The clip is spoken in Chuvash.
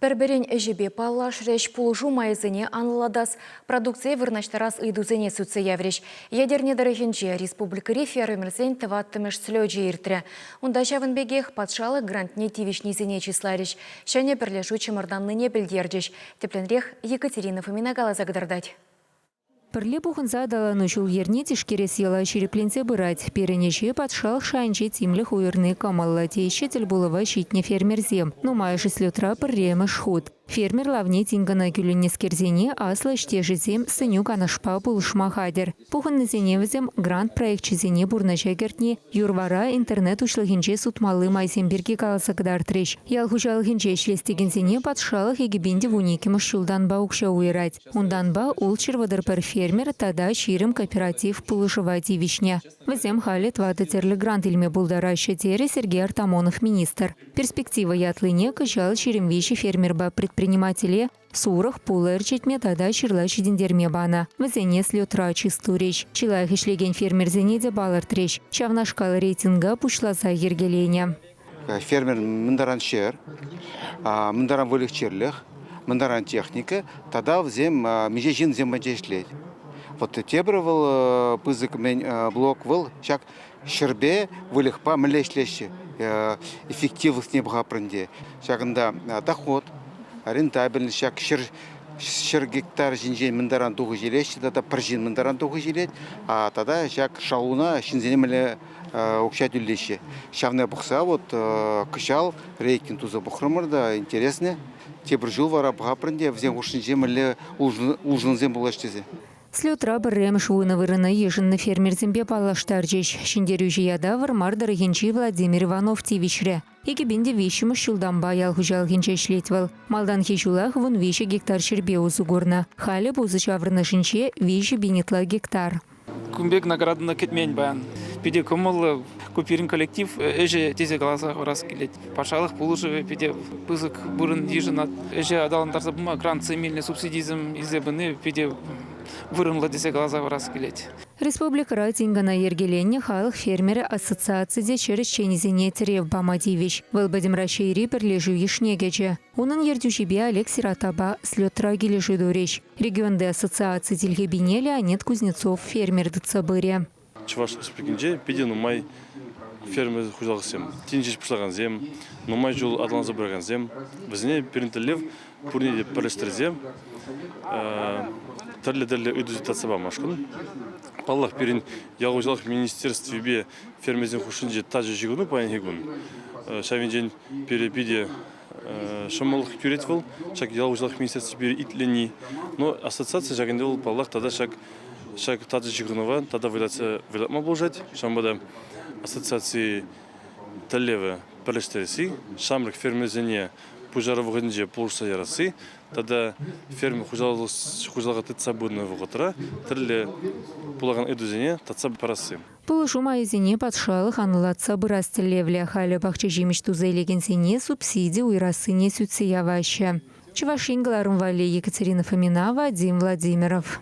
Пӗр-пӗрин ӗҫӗпе паллашрӗҫ, пулӑшу майӗсене анлӑлатас, продукцие вырнаҫтарас ыйтусене сӳтсе яврӗҫ. Етӗрне тӑрӑхӗнче республикӑри фермерсен тӑваттӑмӗш слечӗ иртрӗ. Унта ҫавӑн пекех патшалӑх грантне тивӗҫнисене чысларӗҫ, ҫӗнӗ пӗрлешӳ чӑмӑртаннине пӗлтерчӗҫ. Тӗплӗнрех Екатерина Фомина каласа кӑтартать. Пӗрле пухӑнса аталану ҫул-йӗрне тишкерес йӑла ҫирӗпленсе пырать. Пирӗн ӗҫе патшалӑх шайӗнче тимлӗх уйӑрни кӑмӑллӑ, теҫҫӗ тӗлпулӑва ҫитнӗ фермерсем. Нумайӑшӗ слетра пӗрремӗш хут. Фермер лавне тин кӑна кӳлӗннӗскерсене аслӑ ӗҫтешӗсем сӗнӳ-канашпа пулӑшма хатӗр. Пухӑннисене вӗсем грант проекчӗсене пурнӑҫа кӗртни, юр-вара интернет уҫлӑхӗнче сутмалли майсем пирки каласа кӑтартрӗҫ. Ял хуҫалӑхӗнче ӗҫлес текенсене патшалӑх икӗпен те вун иккӗмӗш ҫултанпа укҫа уйӑрать. Унтанпа Улҫырвӑтӑр пӗр фермер тата ҫирӗм кооператив пулӑшӑва тивӗҫнӗ. Вӗсем халӗ тӑватӑ тӗрлӗ грант илме пултараҫҫӗ, терӗ Сергей Артамонов министр. Перспектива ятлине кӑҫал ҫирӗм виҫӗ фермерпа предпринимателе сурӑх, пулӑ ӗрчетме тата ҫырла ҫитӗнтерме панӑ. Вӗсене слетра чыс турӗҫ. Чи лайӑх ӗҫлекен фермерсене те палӑртрӗҫ. Ҫавнашкал рейтинга пуҫласа йӗркеленӗ. Фермер мӗн таран ҫӗр, мӗн таран выльӑх-чӗрлӗх, мӗн таран техника тата вӗсем миҫе ҫынсем ӗнтӗ ӗҫлет. Вот тепӗр вӑл пысӑк мӗн блок вӑл ҫак ҫӗрпе выльӑхпа мӗнле ӗҫлеҫҫӗ эффективлӑхне пӑхаппӑр ӗнтӗ. Ҫакӑнта доход, рентабельность ҫак ҫӗр ҫӗр гектар ҫинчен мӗн таран тухӑҫ илеҫҫӗ тата пӗр ҫын мӗн таран тухӑҫ илет, тата ҫак шалуна ҫынсене мӗнле укҫа тӳлеҫҫӗ. Ҫавна пӑхса вот кӑҫал рейтинг туса пӑхрӑмӑр та интереснӗ. Тепӗр ҫул вара пӑхаппӑр ӗнтӗ вӗсен хушшинче мӗнле улшӑнусем пулаҫ тесе. Слетра пӗрремӗш вунӑ вырӑна йышӑннӑ фермерсемпе паллаштарчӗҫ. Ҫӗнтерӳҫӗ ята Вӑрмар тӑрӑхӗнчи Владимир Иванов тивӗҫрӗ. Экӗпен те виҫҫӗмӗш ҫултанпа ял хуҫалӑхӗнче ӗҫлет вӑл. Малтанхи ҫулах вун виҫӗ гектар ҫӗрпе усӑ курнӑ. Халӗ пусӑ ҫаврӑнӑшӗнче виҫӗ пин ытла гектар. Кун пек наградӑна кӗтмен паян. Питӗ кӑмӑллӑ. Ку пирӗн коллектив ӗҫӗ тесе каласа хурас килет. Патшалӑх пулӑшӑвӗ питӗ пысӑк вырӑн йышӑнать. Ӗҫе аталантарса пыма грантсем илнӗ субсидисем илсе пыни питӗ вырӑнлӑ тесе каласа хурас килет. Республикӑра тин-кӑна йӗркеленнӗ халӑх фермерӗ ассоциаци те ҫӗр ӗҫченӗсене тӗрев пама тивӗҫ. Вӑл пӗтӗм Раҫҫейри пӗрлешӳ йышне кӗчӗ. Унӑн ертӳҫипе Олег Сиратова слетра килӗшӳ турӗҫ. Регионти ассоциаци тилхепине Леонид Кузнецов фермер тытса пырӗ. Чӑваш Республикинче питӗ нумай фермер хуҫалӑхсем, тин ҫеҫ пуҫлакансем, нумай ҫул аталанса пыракансем, вӗсене пирӗн тӗллев пурне те пӗрлештерсе тӗрлӗ-тӗрлӗ ыйтусене татса памашкӑн. Паллах, пирӗн ял хуҫалӑх министерствипе фермерсен хушшинче тачӑ ҫыхӑну паянхи кун. Ҫавӑнчен пире питӗ ҫӑмӑллӑх кӳрет вӑл, ҫак ял хуҫалӑх министерстви пире итленни. Но ассоциаци ҫак ӗнтӗ вӑл, паллах, тата ҫак ҫак тачӑ ҫыхӑнӑва тата вӑйлатма пулӑшать. Ҫавӑнпа та ассоциаци тӗллевӗ пӗрлештересси ҫамрӑк фермерсене пуҫару вӑхӑтӗнче пулӑшса ярасси тата ферма хуҫалӑха тытса пынӑ вӑхӑтра тӗрлӗ пулакан ыйтусене татса парасси. Пулӑшу майӗсене патшалӑх анлӑлатса пырас тӗллевлӗ. Халӗ пахча ҫимӗҫ туса илекенсене субсиди уйӑрассине сӳтсе яваҫҫӗ. Чӑваш Ен кӑларӑм валли Екатерина Фоминова, Вадим Владимиров.